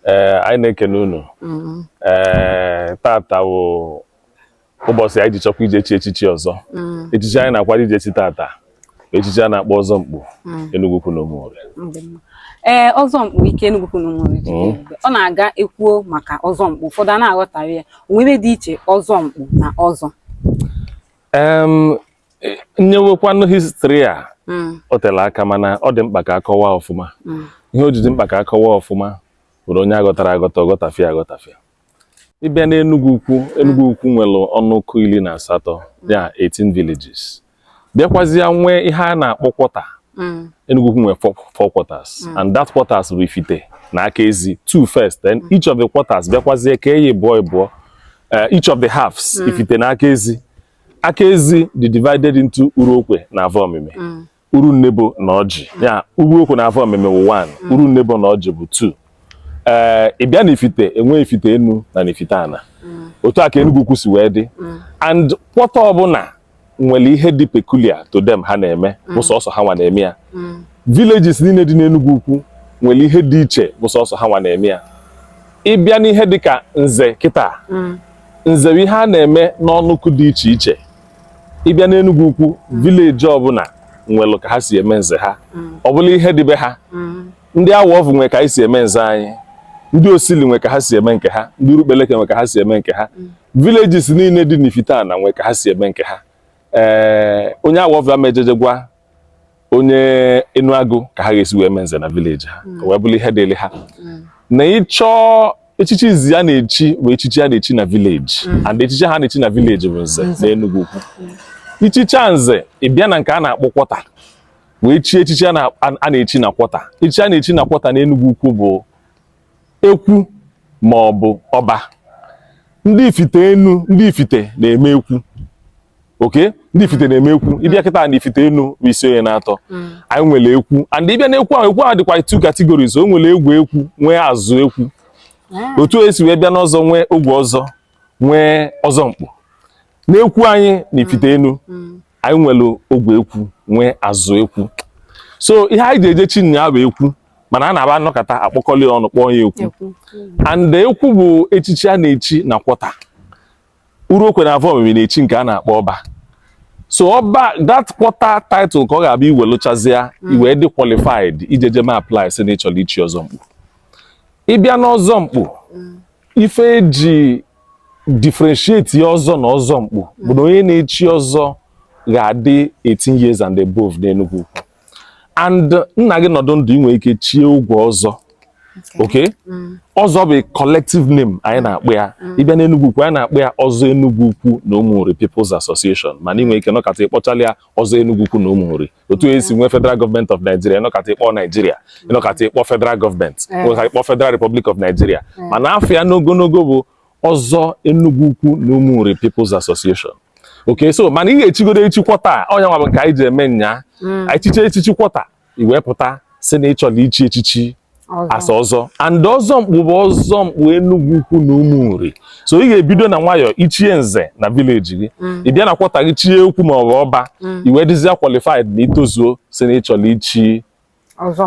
ee eh, anyị na-ekene unu mm-hmm. ee eh, tata wụ ụbọchị anyị ji chọkwa ije chi echichi ọzọ mm-hmm. echichi anyị na-akwado ije chi tata echichi a na-akpọ ọzọ mkpu mm-hmm. Enugwu Ukwu na Ụmụnri ee eh, ọzọ mkpu ike Enugwu Ukwu na Ụmụnri ọ na-aga ekwuo maka ọzọ mkpu ụfọdụ a na-aghọtara ya o nwe ihe dị iche ọzọ mkpu na ọzọ nyewekwanụ histri a hmm. o tela aka mana ọ dị mkpa ka akọwa ọfụma hmm. ihe o ji dị mkpa ka akọwa ọfụma bụrụ onye aghọtarọ aghọta ọ ghọtafịa aghọtafịa ị bịa n'Enugwu Ukwu Enugwu Ukwu nwere ọnụkụ iri na asatọ ya 18 villages bịakwazịa nwee ihe a na-akpọ kwọta hmm. Enugwu Ukwu nwere four quarters and that quarters bụ Ifite na Akaezi two first then each of the quarters bịakwazie kee ịbụọ ịbụọ eh, each of the halves Ifite na Akaezi Akaezi dị divided into Uruokwe na Avọmimi mm. Urunnebo na Ọjị mm. ya Uruokwe na Avọmimi wụ 1 mm. Urunnebo na Ọjị bụ 2 ee ị bịa na Ifite e nwee Ifite enu na na Ifite ana otu a ka Enugwu Ukwu si wee dị and kwọta ọbụla nwere ihe dị peculiar to them ha na-eme bụ sọsọ ha nwa na-eme ya villages niile dị n'Enugwu Ukwu nwere ihe dị iche bụ sọsọ ha nwa na-eme ya ị bịa n'ihe dịka nze kịta nze bụ ihe a na-eme n'ọnụkụ dị iche iche ị bịa n'Enugwu Ukwu vileji ọbụla nwere ka ha si eme nze ha ọ bụrụ ihe dị be ha ndị Awọvụ nwe ka anyị si eme nze anyị ndị Osili nwe ka ha si eme nke ha ndị Urukpaleke nwe ka ha si eme nke ha villages niile dị n'Ifite ana nwe ka ha si eme nke ha ee onye Awọvụ ama ejeje gwa onye Enuagu ka ha ga-esi wee mee nze na vileji ha hmm. wee bụrụ ihe dịrị ha hmm. na ị chọọ echichi izi a na-echi bụ echichi a na-echi na vileji hmm. and echichi ha na-echi na vileji bụ nze na Enugwu Ukwu i chichaa nze ị bịa na nke a na-akpọ kwọta wee chie echichi a na-echi na kwọta echichi a na-echi na kwọta na Enugwu Ukwu bụ ekwu ma ọ bụ ọba ndị Ifite enu ndị Ifite na-eme ekwu okay ndị Ifite na-eme ekwu hmm. ị bịa kịta na Ifite enu bụ Isionye n'atọ hmm. anyị nwere ekwu and ị bịa na ekwu ahụ ekwu ahụ dịkwa two categories o nwere ogwe ekwu nwee azụ ekwu ah. otu e si wee bịa n'ọzọ nwee ogwe ọzọ nwee ọzọ mkpu n'ekwu anyị na Ifite enu anyị nwere ogwe ekwu nwee azụ ekwu so ihe anyị ji eje chi nyaa bụ ekwu mana a na-aba anọkọta akpọkọli ọnụ kpọọ ya ekwu and ekwu bụ echichi a na-echi na kwọta Uruokwe na Avọmimi na-echi nke a na-akpọ ọba so ọba that kwọta title ka ọ ga-abụ i welụchazịa mm. i wee dị qualified ijeje me apply sị na ị chọrọ ichi ọzọ mkpu ị bịa n'ọzọ mkpu mm. ife eji differentiate ya ọzọ na ọzọ mkpu bụ na onye na-echi ọzọ ga-adị 18 years and above n'Enugwu-Ukwu and nna gị nọdụ ndụ inwe ike chie ogwe ọzọ okay mm. ọzọ bụ collective name anyị na-akpọ ya mm. ịbịa n'Enugwu-Ukwu anyị na-akpọ ya ọzọ Enugwu-Ukwu na Ụmụnri People's Association mana inwe ike nọkata ịkpọchala ya ọzọ Enugwu-Ukwu na Ụmụnri otu e si nwee federal government of Nigeria ịnọkata ịkpọ Nigeria ịnọkata ịkpọ federal government ịnọkata ịkpọ federal republic of Nigeria mana afa ya n'ogologo bụ ọzọ Enugwu-Ukwu na Ụmụnri People's Association okay so mana ị ga-echigodo echi quarter ọ nya nwa bụ nke anyị ji eme nya mm. anyị chicha echichi quarter iwee pụta si na ịchọla ichi echichi asa ọzọ and ọzọ mkpu bụ ọzọ mkpu Enugwu-Ukwu na Ụmụnri so ị ga-ebido na nwayọọ ichie nze na village gị mm. ị bịa na quarter gị chie ekwu ma ọ bụ ọba mm. iwe dịzia qualified na itozuo si na ịchọrọ ichi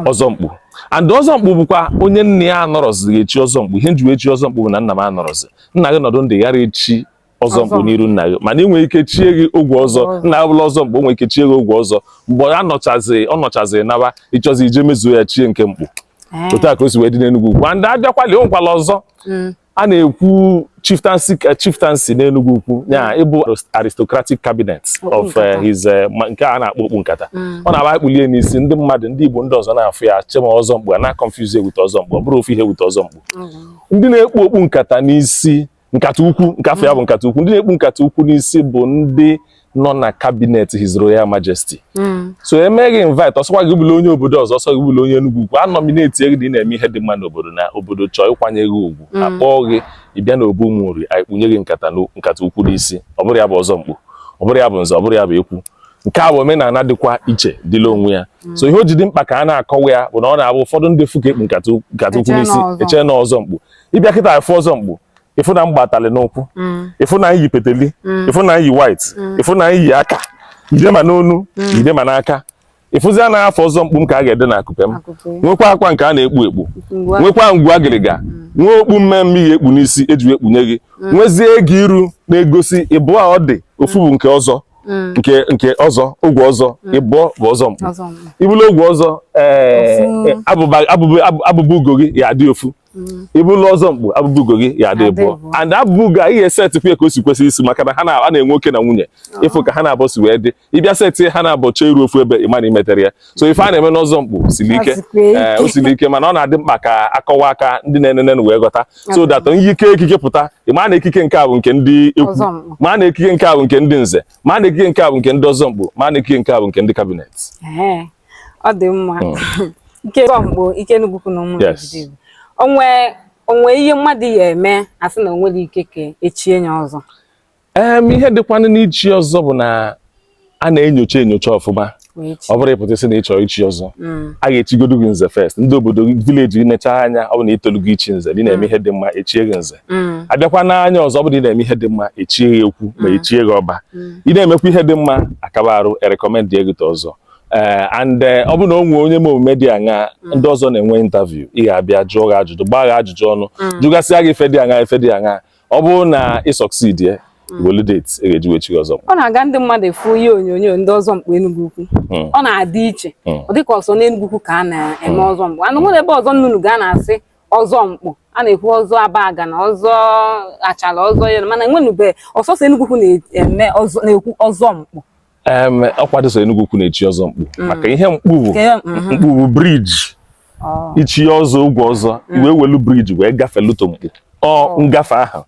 ọzọ mkpu and ọzọ mkpu bụkwa onye nna ya anọrọzi ga-echi ọzọ mkpu ihe m ji wee chi ọzọ mkpu bụ na nna m anọrọzi nna gị nọdụ ndụ ị ghara echi ọzọ mkpu n'iru nna gị mana ị nwere ike chie gị ogwe ọzọ nna ya bụla ọzọ mkpu o nwere ike chie gị ogwe ọzọ mgbe ọ nọchazi ọ nọchazi naba ịchọzi ije mezuo ya chie nke mkpu eh. otu a ka o si wee dị n'Enugwu-Ukwu and abịakwali o nwekwala ọzọ mm. a na-ekwu chieftaincy eh, chieftaincy n'Enugwu-Ukwu ya mm. ịbụ aristocratic cabinet of eh, his nke a na-akpọ okpu nkata mm. ọ na-abụ ekpulie n'isi ndị mmadụ ndị Igbo ndị ọzọ na-afụ ya chee ma ọzọ mkpu a na-confuse with ọzọ mkpu ọ bụrọ ofu ihe with ọzọ mkpu ndị na-ekpu okpu nkata n'isi nkata ukwu nke afa ya bụ nkata ukwu ndị na-ekpu nkata ukwu n'isi bụ ndị nọ na cabinet His Royal Majesty hmm. so e mee gị invite ọ sọkwa gị bụla onye obodo ọzọ ọ sọ gị bụla onye Enugwu-Ukwu a nominate gị na ị na-eme ihe dị mma n'obodo na obodo chọọ ịkwanye gị ugwu hmm. akpọọ gị ịbịa na obu Ụmụnri anyị kpunye gị nkata nkata ukwu n'isi ọ bụrọ ya bụ ọzọ mkpu ọ bụrọ ya bụ nze ọ bụrọ ya bụ ekwu nke a bụ omenala dịkwa iche dịla onwe ya mm. so ihe o ji dị mkpa ka a na-akọwa ya bụ na ọ na-abụ ụfọdụ ndị fụ ka ekpu nkata ukwu n'isi eche na ọzọ mkpu ịbịa kịta fụ ọzọ mkpu ịfụ na m gba atali n'ụkwụ ịfụ na iyi peteli ịfụ na iyi white ịfụ na iyi aka ide ma n'onu ide ma n'aka ịfụzia na afa ọzọ mkpu m ka a ga-ede na akụpe m nwekwa akwa nke a na-ekpu ekpu nwekwa ngwu agịrịga nwee okpu mmee mmee ị ga-ekpu n'isi eji ekpunye gị nwezie ego iru na-egosi ịbụọ ọ dị ofu bụ nke ọzọ Mm. nke nke ọzọ ogwe ọzọ mm. ịbụọ bụ ọzọ mkpu ị bụlụ ogwe ọzọ eh, eh, abụba ugo gị ya adị ofu mm. ị bụla ọzọ mkpu abụba ugo gị ya adị ịbụọ and abụba ugo a ihe setịpụ ya ka o si kwesị isi maka na ha na-enwe oke na nwunye ah. ịfụ ka ha naabọ si wee dị ịbịa setị ha naabọ chee iru ofu ebe ịma na imetere ya so ife a na-eme n'ọzọ mkpu siri ike eh, o siri ike mana ọ na-adị mkpa ka akọwa ya ka ndị na-enene wee ghọta so that i kee ekike pụta ịma na ekike nke a bụ nke ndị ekwu ma na ekike nke a bụ nke ndị nze ma na ekike nke a bụ nke ndị ọzọ mkpu ma na ekike nke a bụ nke ndị cabinet ọ dị mma hmm. ike ọzọ mkpu ike Enugwu Ukwu na Ụmụnri onwe ihe mmadụ ya eme asị na onwere ike ka echie ya ọzọ ee ihe dịkwanụ n'ichi ọzọ bụ na a na-enyocha enyocha ọfụma ọ bụrụ ịpụta sị na ịchọ ichi ọzọ hmm. a ga-echigodu gị nze first ndị obodo gị village gị nechaa anya ọ bụ na itolugo ichi nze ị na-eme hmm. ihe dị mma echie gị nze hmm. abịakwa n'anya ọzọ ọ bụ na ị na-eme ihe dị mma echie gị ekwu ma echie gị ọba ị na-emekwa ihe dị mma akaba arụ e recommend gị ọzọ ee eh, and eh, ọ bụ na o nwee onye ma omume dị aṅa mm. ndị ọzọ na-enwe interview ị ga-abịa jụọ gị ajụjụ gbaa gị ajụjụ ọnụ mm. jụgasịa gị ife dị aṅa ife dị aṅa ọ bụrụ na ị succeed ya mm. welu date ị ga-eji wee chi ọzọ ọ na-aga ndị mmadụ afụ ihe onyonyo ndị ọzọ mkpu Enugwu Ukwu ọ na-adị iche ọ dịka ọ sọ n'Enugwu Ukwu ka a na-eme ọzọ mkpu anụ nwere ebe ọzọ m nụnụ ka a na-asị ọzọ mkpu a na-ekwu ọzọ Abagana ọzọ Achala ọzọ yere mana enwenube ọ sọsọ Enugwu Ukwu na-ekwu ọzọ mkpu ọkwa dị sọ Enugwu Ukwu na-echi ọzọ mkpu mm. maka ihe mkpu bụ mm-hmm. mkpu bụ bridge oh. ichi ọzọ ụgwọ ọzọ mm. i wee welu bridge wee gafelu to mkpu ọ oh. ngafe ahụ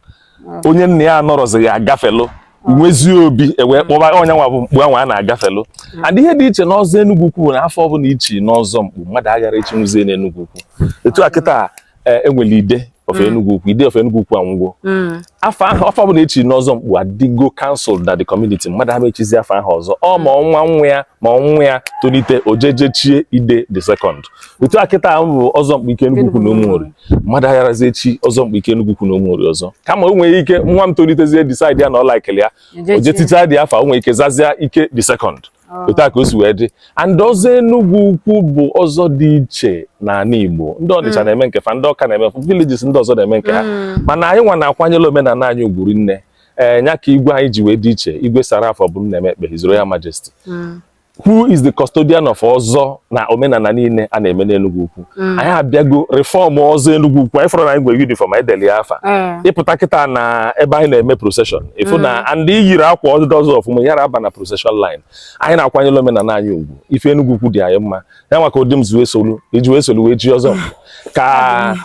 oh. onye nna ya anọrọzi ya agafelu nwezie obi ewee kpọba ọ nyanwa bụ mkpu anwa a na-agafelu hmm. and ihe dị iche n'ọzọ Enugwu Ukwu bụ na afa ọbụla ichi n'ọzọ mkpu mmadụ aghara ichinwuzie n'Enugwu Ukwu etu a kịta e, e nwere ide of mm. Enugwu Ukwu ide of Enugwu Ukwu anwụgo mm. afa ahụ afa ọbụla echiri n'ọzọ mkpu adịgo cancel na the community mmadụ ama echizi afa ahụ ọzọ ọ ma ọ nwa nwa ya ma ọ nwa ya tolite o je-eje chie ide the second otu a kịta ahụ bụ ọzọ mkpu ike Enugwu Ukwu na Ụmụnri mmadụ agharazi echi ọzọ mkpu ike Enugwu Ukwu na Ụmụnri ọzọ kama o nwere ike nwa m tolitezie decide ya na ọ laikili ya ojetita dị afọ o nwere ike zazia ike the second ah. otu a ka o si wee dị and ọzọ Enugwu Ukwu bụ ọzọ dị iche n'anị Igbo ndị Ọnịcha mm. na-eme nke fa ndị Ọka na-eme villages ndị ọzọ na-eme nke ha mm. mana anyị nwa na-akwanyere omenana anyị ugwu rinne ee eh, nya ka igwe anyị ji wee dị iche Igwe Sir Ralph Obumnaeme Ekpeh His Royal Majesty mm. who is the custodian of ọzọ na omenana niile a na-eme n'Enugwu Ukwu Mm. anyị abịago reform ọzọ Enugwu Ukwu anyị fụrụ na anyị nwere uniform anyị deli afa mm. ịpụta kịta na ebe anyị na-eme procession ịfụ na mm. ndị yiri akwa ndị ọzọ ọfụma yara aba na procession line anyị na-akwanyere omenala anyị ugwu ife Enugwu Ukwu dị anyị mma ya nwa ka ụdị m ji wee solu iji wee solu wee chi ọzọ ka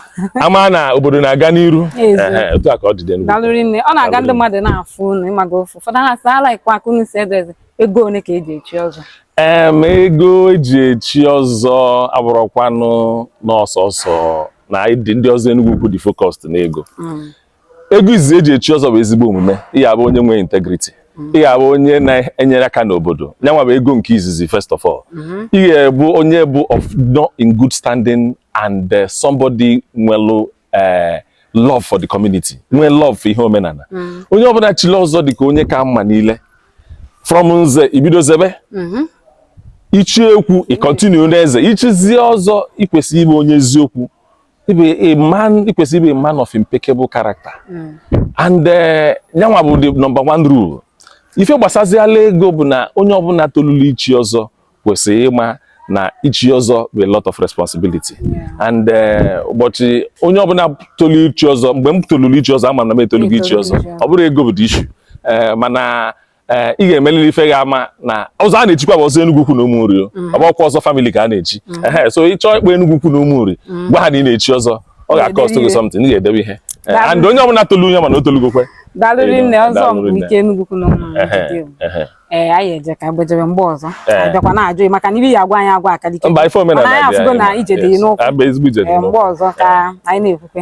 ama na obodo na-aga n'iru otu a ka ọ dị dị ọ na-aga ndị mmadụ na-afụ unu ịmaga ofu ụfọdụ ha sị lekwa ka unu si edeze ego one ka eji echi ọzọ em ego eji echi ọzọ abụrọkwanụ na ọ sọsọ na anyị dị ndị ọzọ Enugwu Ukwu dị focused n'ego mm. ego izizi eji echi ọzọ bụ ezigbo omume ị ga-abụ onye nwere integrity mm. ị ga-abụ onye na-enyere aka n'obodo nyanwa bụ ego nke izizi first of all mm-hmm. ị ga-abụ onye bụ of nọ in good standing and uh, somebody nwelu ee eh, love for the community nwee love for ihe omenala mm. onye ọbụla chili ọzọ dị ka onye ka mma niile from nze i bido zebe mm-hmm. i chi ekwu ị continue na-eze i chizie ọzọ i kwesị ịbụ onye eziokwu ịbụ a man i kwesị ịbụ a man of impeccable character mm. and eh, nyanwa bụ the number one rule ife gbasaziala ego bụ na onye ọbụla tolulu ichi ọzọ kwesịrị ịma na ichi ọzọ bụ a lot of responsibility and eh, ụbọchị onye ọbụla tolu ichi ọzọ mgbe m toluru ichi ọzọ ama na m etolugo ichi ọzọ ọ bụrọ ego bụ the issue eh, mana eh, ị ga-emeliri ife ga-ama na ọzọ a na-echikwa bụ ọzọ Enugwu-Ukwu na Ụmụnri mm. ọ bụrọkwa ọzọ family ka a na-echi mm. so ị chọọ ịkpọ Enugwu-Ukwu na Ụmụnri mm. gwa ha na ị na-echi ọzọ ọ ga-akọstụ gị something ị ga-edebe ihe and onye ọbụla tolu onye ma na o tolugokwe daalụ rinne Ọzọnkpu nke Enugwu-Ukwu na Ụmụnri ee eh, anyị eje ka gbejere mgbe ọzọ eh. a bịakwa na-ajụ maka na ibi ya agwa anyị agwa akalike mba ife omenala anyị afụgo na ije dị n'ụkwụ eh, mgbe ọzọ ka anyị na-ekwukwe